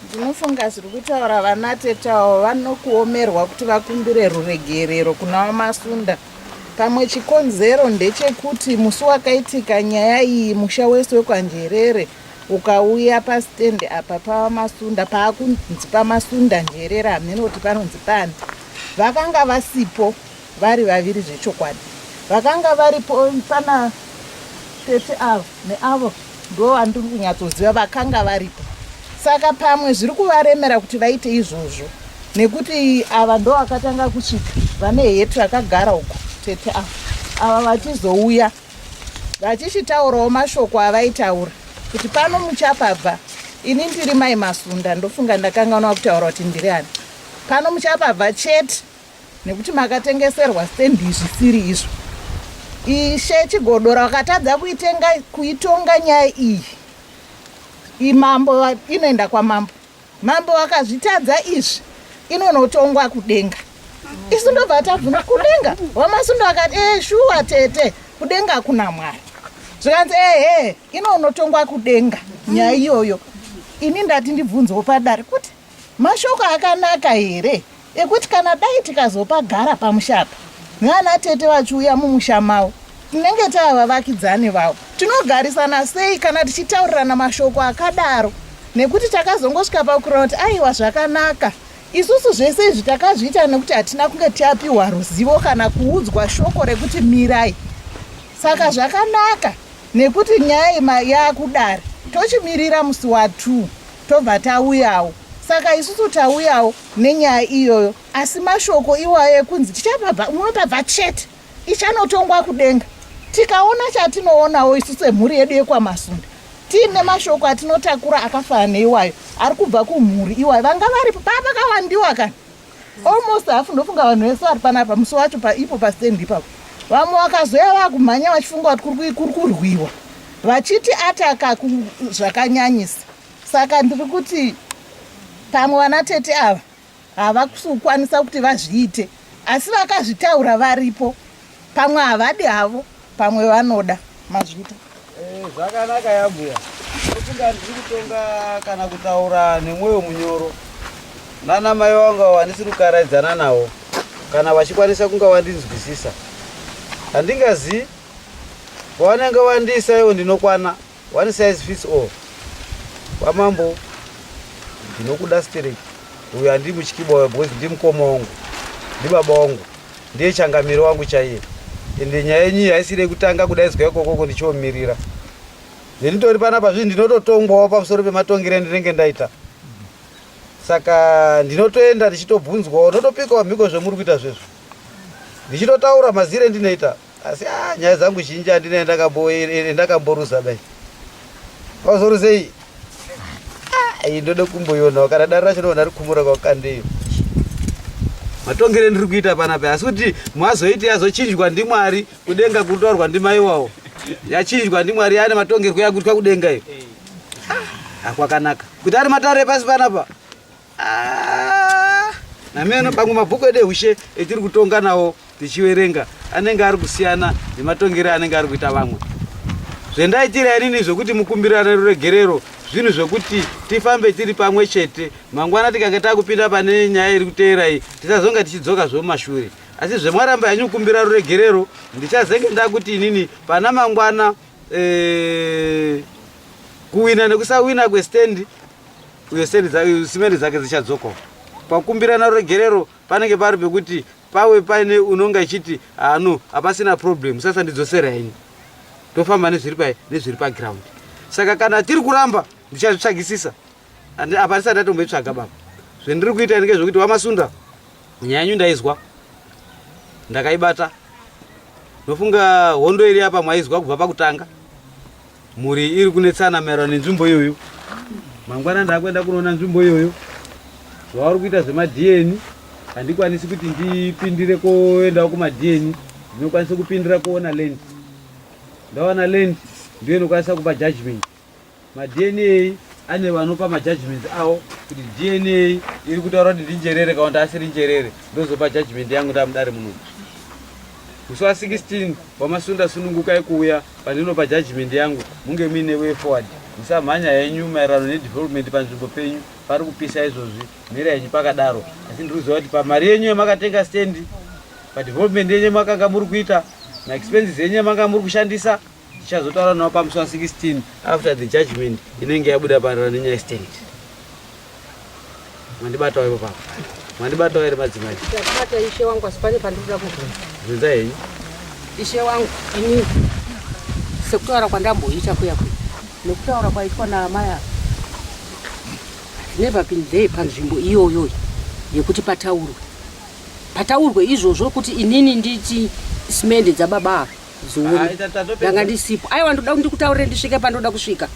ndinofunga zviri kutaura vana tetawo vanokuomerwa kuti vakumbire ruregerero kuna vamasunda pamwe chikonzero ndechekuti musi wakaitika nyaya iyi musha wese wekwanjerere ukauya pastendi apa pavamasunda paakunzi pamasunda njerere hameno kuti panonzi pani vakanga vasipo vari vaviri zvechokwadi vakanga varipo pana tete avo neavo ndo vandiri kunyatsoziva vakanga varipo saka pamwe zviri kuvaremera kuti vaite izvozvo nekuti ava ndo vakatanga kusvika vane heti vakagara uko tete ava ava vachizouya vachichitaurawo mashoko avaitaura kuti pano muchapabva ini ndiri mai masunda ndofunga ndakangana kutaura kuti ndiri ani pano muchapabva chete nekuti makatengeserwa stand zvisiri izvo ishe chigodora wakatadza kuitenga kuitonga nyaya iyi imambo inoenda kwamambo mambo wakazvitadza izvi inonotongwa kudenga isu ndobva tabvuna kudenga wamasundo akati ee eh, shuwa tete kudenga kuna mwari zvikanzi ehe inonotongwa kudenga nyaya iyoyo ini ndati ndibvunzewo padare kuti Mashoko akanaka here ekuti kana dai tikazopagara pamusha apa nana tete vachiuya mumusha mavo tinenge tava vavakidzani vavo. Tinogarisana sei kana tichitaurirana mashoko akadaro nekuti takazongosvika pakurona kuti aiwa zvakanaka isusu zvese izvi takazviita nekuti hatina kunge tiapiwa ruzivo kana kuudzwa shoko rekuti mirai saka zvakanaka Nekuti nyaya ima yakudare tochimirira musi wa 2 tobva tauyawo saka isusu tauyawo nenyaya iyoyo asi mashoko iwayo ekunzi tichapabva munopabva chete ichanotongwa kudenga tikaona chatinoonawo isu semhuri yedu yekwamasunda tiine mashoko atinotakura akafanana neiwayo ari kubva kumhuri iwayo vanga varipo paa pakawandiwa kana almost hafu ndofunga vanhu vese vari panapa musi wacho paipo pastand ipapo vamwe vakazoya vakumhanya vachifunga kuti kuri kurwiwa vachiti ataka zvakanyanyisa saka ndiri kuti pamwe vana tete ava havakusukwanisa kuti vazviite asi vakazvitaura varipo pamwe havadi havo Pamwe vanoda mazvita. Eh, zvakanaka yambuya. Ndofunga ndiri kutonga kana kutaura nemwoyo munyoro. Nana mai vangu wandisiri kukaraidzana nawo kana vachikwanisa kunga vandinzwisisa. Handingazivi pavanenge vandiisa ivo ndinokwana. One size fits all. Kwamambo ndinokuda stereki uyu andiri mutyiba uya because ndi mukoma wangu ndibaba wangu ndiye changamiro wangu chaiye ende nyaya yenyu iyi haisiri yekutanga kudaidzwa ikokoko ndichiomirira ndinitori panapa zvinhu ndinototongwawo pamusoro pematongero endinenge ndaita saka ndinotoenda ndichitobvunzwawo ndotopikawo mhiko zvemuri kuita zvezvo ndichitotaura mazire ndinoita asi ah, nyaya dzangu zhinji handina yandakamboruza eh, eh, dai pauzoruzei ah, iyi ndoda kumboionawo kana dare racho ndoona rikumura kwakukandeyo matongere ndiri kuita panape asi kuti mwazoiti yazochinjwa ndimwari kudenga kutorwa ndimaiwawo yachinjwa ndimwari yaane matongerwo yakutwa kudenga iyo akwakanaka ah, kuti ari matare pasi panapa Ah, nami ano pamwe mabhuku edu ehushe etiri kutonga nawo tichiverenga anenge ari kusiyana nematongero anenge ari kuita vamwe zvendaitira inini zvekuti mukumbirane ruregerero zvinhu zvekuti tifambe tiri pamwe chete mangwana tikange takupinda pane nyaya iri kuteera iyi tisazonge tichidzoka zvemumashure asi zvemwaramba yanyu kukumbira ruregerero ndichazenge ndakuti inini pana mangwana ee, eh, kuwina nekusawina kwestand uye simende dzake dzichadzokawo pakumbirana ruregerero panenge pari pekuti pawe paine unonga ichiti hano ah, hapasina problem sasa ndidzosera ini tofamba nezviri pai nezviri paground saka kana tiri kuramba ndichazvitsvagisisa apa ndisati ndatomboitsvaga baba zvendiri kuita ndinge zvekuti wamasunda nyaya yanyu ndaizwa ndakaibata ndofunga hondo iri apa mwaizwa kubva pakutanga mhuri iri kunetsana maererano nenzvimbo iyoyo mangwana ndaakuenda kunoona nzvimbo iyoyo zvavari kuita zvemadn handikwanisi kuti ndipindire koendawo kumadn ndinokwanisa kupindira kuona land ndaona land ndiyo inokwanisa kupa judgment madna ane vanopa majudgment awo kuti dna iri kutaura kuti ndinjerere kana kuti asiri njerere ndozopa judgment yangu ndamudare munomu Musi wa 16 wamasunda sunungukai kuuya pandinopa judgment yangu munge muine way forward. Musamhanya henyu maererano nedevelopment panzvimbo penyu pari kupisa izvozvi mira henyu pakadaro asi ndiri kuziva kuti pamari yenyu yamakatenga stand padevelopment yenyu makanga muri kuita maexpenses enyu yamanga muri kushandisa Ndichazotaura nawo pamusi wa 16 after the judgment inenge yabuda parara nenyaya stand. Mandibatawo ipo papa. Mandibatawo ere madzimai? Ndakubata ishe wangu asi pane pandikuda kubvunza. Bvunza henyu. Ishe wangu ini sekutaura kwandamboita kuya kuya nekutaura kwaitwa naamai ava never been there panzvimbo iyoyo yekuti pataurwe pataurwe izvozvo kuti inini nditi simende dzababa ava zvione ndanga ndisipo aiwa ndoda ndikutaurire ndisvike pandoda kusvika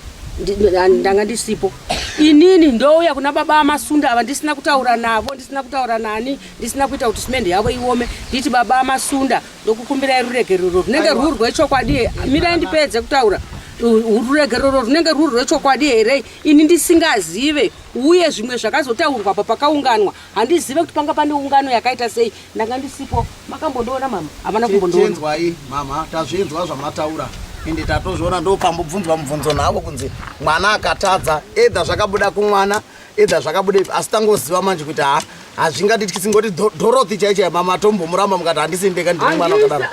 ndanga ndisipo inini ndouya kuna baba amasunda ava ndisina kutaura navo ndisina kutaura nani ndisina kuita kuti simende yavo iome nditi baba amasunda ndokukumbirai ruregerero runenge rwuri rwechokwadi mirai ndipedze kutaura ruregerero runenge rwuri rwechokwadi here ini ndisingazive uye zvimwe zvakazotaurwa pa pakaunganwa handizive kuti panga pane ungano yakaita sei ndanga ndisipo makambondiona mama havana kumbondiwai mama tazvinzwa zvamataura ende tatozviona ndopambobvunzwa mubvunzo navo kunzi mwana akatadza edha zvakabuda kumwana edha zvakabuda ipi asi tangoziva manje kuti ha hazvingatitisi ngoti dorothi chaicho yamama atombomuramba mukati handisimbeka ndiri mwana wakadaro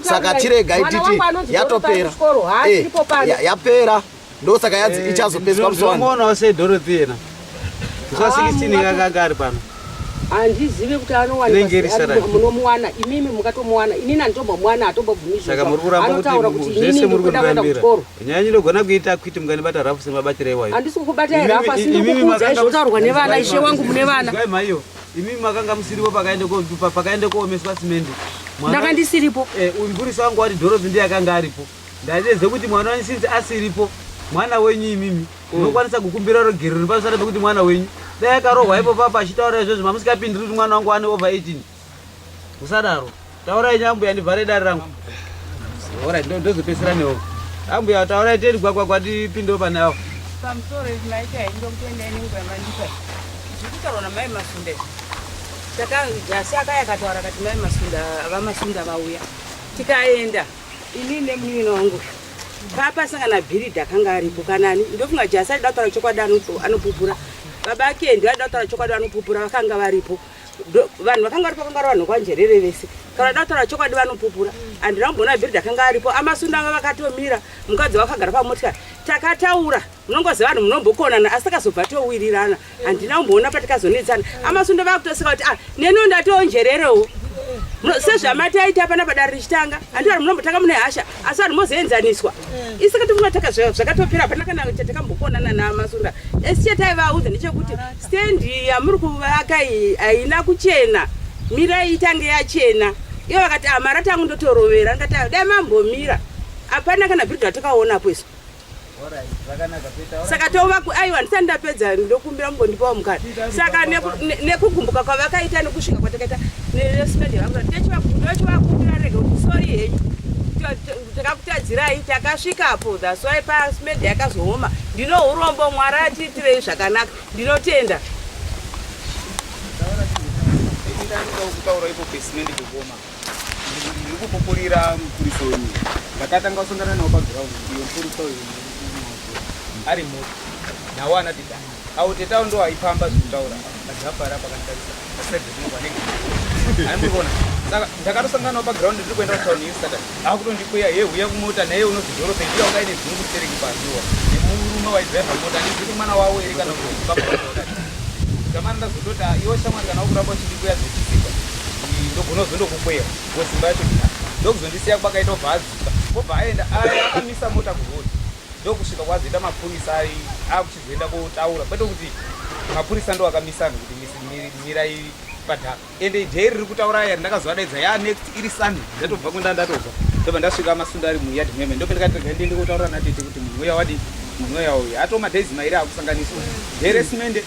saka tiregai titi yatopera eh, yapera ndosaka yanzi eh, ichazopeswa msongoona se dorothy yena zuva 16 ah, kakanga ari pano handizive kuti anowanmunomuwana imimi mukatomuwana inini anditombo mwana atombobvumisaka muri kuramba kutivese muri kundirambira nyaya ndinogona kuita kwiti munganibata rafu semabatira iwayo handisi kukubatai rafu asi ndikukuudzai zvotaurwa nevana ishe wangu mune vana maiyo imimi makanga musiripo pakaende koomeswa simendi ndakandisiripo eh, uyu mburisi wangu wati dhorozi ndiye akanga aripo Ndaive ze kuti mwana wenyu since asiripo mwana wenyu imimi munokwanisa kukumbira rogerero nepasara pekuti mwana wenyu dai akarohwa ipo papa achitaura izvozvo mamusingapindiri kuti mwana wangu ane over 18 musadaro taurai nyambuya ndivhare dare rangu ora ndozopesera newo ambuya taurai teni gwagwagwa ndipindewo pane avo pamusoro izvi maita indokuenda inenguva mandipa zvekutaurwa namai masunda takajasi akayakataura kati mai masunda vamasunda vauya tikaenda Ini nemunin'ina wangu papa sangana bhiridhi akanga aripo kanani ndofunga jasi aida kutaura chokwadi anopupura baba ake ndio aida kutaura chokwadi anopupura vakanga varipo vanhu vakanga varipo vakanga vanhu kwanjerere vese kana aida kutaura chokwadi vanopupura andina kumboona bhiridhi akanga aripo amasundanga vakatomira mukadzi wakagara pamotikari takataura unongoziva vanhu munombokonana asi takazobva towirirana handina kumboona patikazonetsana amasundo vakutosika kuti ah neno ndationjererewo sezvamataita pana padare richitanga handi vanhu munombotanga mune hasha asi vanhu mozoenzaniswa isaka tifuna taka zvakatopera hapana kana chatakakambokonana namasunda esi chataivaudza ndechekuti stendi yamuri kuvaka haina kuchena mirai itange yachena iyo vakati amara ah, tangu ndotorovera ndikati ah, dai mambomira hapana kana bhiridha takaonapo isu saka tova aiwa ndisati ndapedza ndokumbira mugondipawo mukana saka nekugumbuka kwavakaita nekusvika kwatakaita neresmedi vangu ndochivakumbira rega kuti sori henyu takakutadzirai takasvikapo thats why pasmedi yakazooma ndino urombo mwari atiitirei zvakanaka ndinotenda Thank you. ndikupupurira mupurisa uyu ndakatanga kusongana nawo paground iyo mupurisa uyu ari muti nawo anati da awo tetawo ndo aifamba zvekutaura azvapara pakanditarisa asaidinoanenge aimurona saka ndakatosangana nawo paground ndiri kuenda kutown iyo saturday akutondikweya ye huya kumota naye unozidoro pendiya ungaine dzungu stereki paziwa nemurume waidriva mota ndizviri mwana wawo ere kana kuti baba vaoa zamani ndazototi iwo shamwari kana wokuramba uchindikweya zvechisipa ndogona kuzondokukweya kusimba yacho ina ndokuzondisiya kwakaita obva azuka obva aenda aya akamisa mota kurodi ndokusvika kwazoita mapurisa ai akuchizoenda kotaura kwete kuti mapurisa ndo akamisa anhu kuti mirai padhaka ende idhei riri kutaura aya ndakazovadaidza ya next iri sunny ndatobva kwenda ndatobva ndobva ndasvika masunda ari muyadi meme ndope ndikatega ndiende kotaura natete kuti munhu uya wadi munhu uya uya atoma days mairi akusanganiswa dheresimende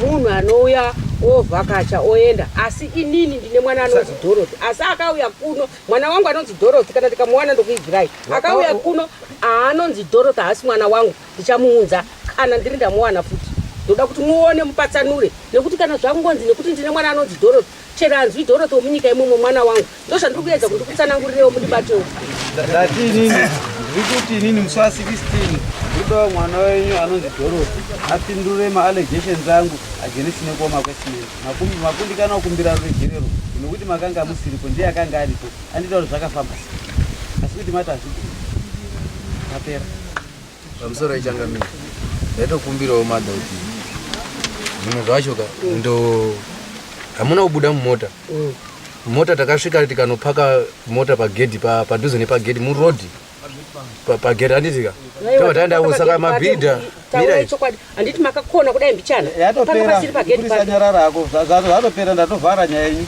Munhu anouya ovhakacha oenda asi inini ndine mwana anonzi Dorothy asi akauya kuno mwana wangu anonzi Dorothy kana ndikamuwana ndokuibvirai akauya kuno aanonzi Dorothy haasi mwana wangu ndichamuunza kana ndiri ndamuwana futi ndoda kuti muone mupatsanure nekuti kana zvangonzi nekuti ndine mwana anonzi Dorothy Chero hanzwi Dorothy womunyika imomo mwana wangu. Ndozvandiri kuedza kuti ndikutsanangurirewo mundibatewo. Ndati inini ndiri kuti inini musi wa 16 ndodawo mwana wenyu anonzi Dorothy apindure maallegations angu against nekuoma kwesimeni. Makumbi makundikana kukumbira ruregerero nekuti makanga musiripo ndiye akanga aripo anditaura zvakafamba asi kuti mati hazvigoni. Tapera. Pamusoro yechangamire ndaitokumbirawo mada kuti zvimwe zvacho ka ndo hamuna kubuda mumota mm. mota takasvika tikanopaka mota pagedhi padhuze nepagedhi murodhi pagedhi handiti ka tava taendako saka mabhidha handiti makakona kudai mbichana yatoperapasiri pageti panyarara ako zvatopera ndatovhara nyaya yenyu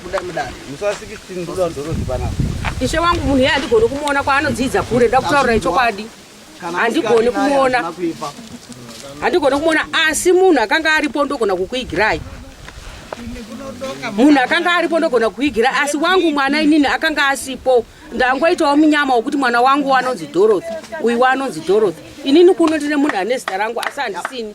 buda mudare musi wa 16 ndoda ndorozi panapa ishe wangu munhu iye handigoni kumuona kwaanodzidza kure nda kutaurira ichokwadi handigoni kumuona handigoni kumuona asi munhu akanga aripo ndogona kukuigirai munhu akanga aripo ndogona kukuigirai asi wangu mwana inini akanga asipo ndangoitawo munyama wekuti mwana wangu wanonzi dorothy uyu wanonzi dorothy inini kuno ndine munhu ane zita rangu asi handisini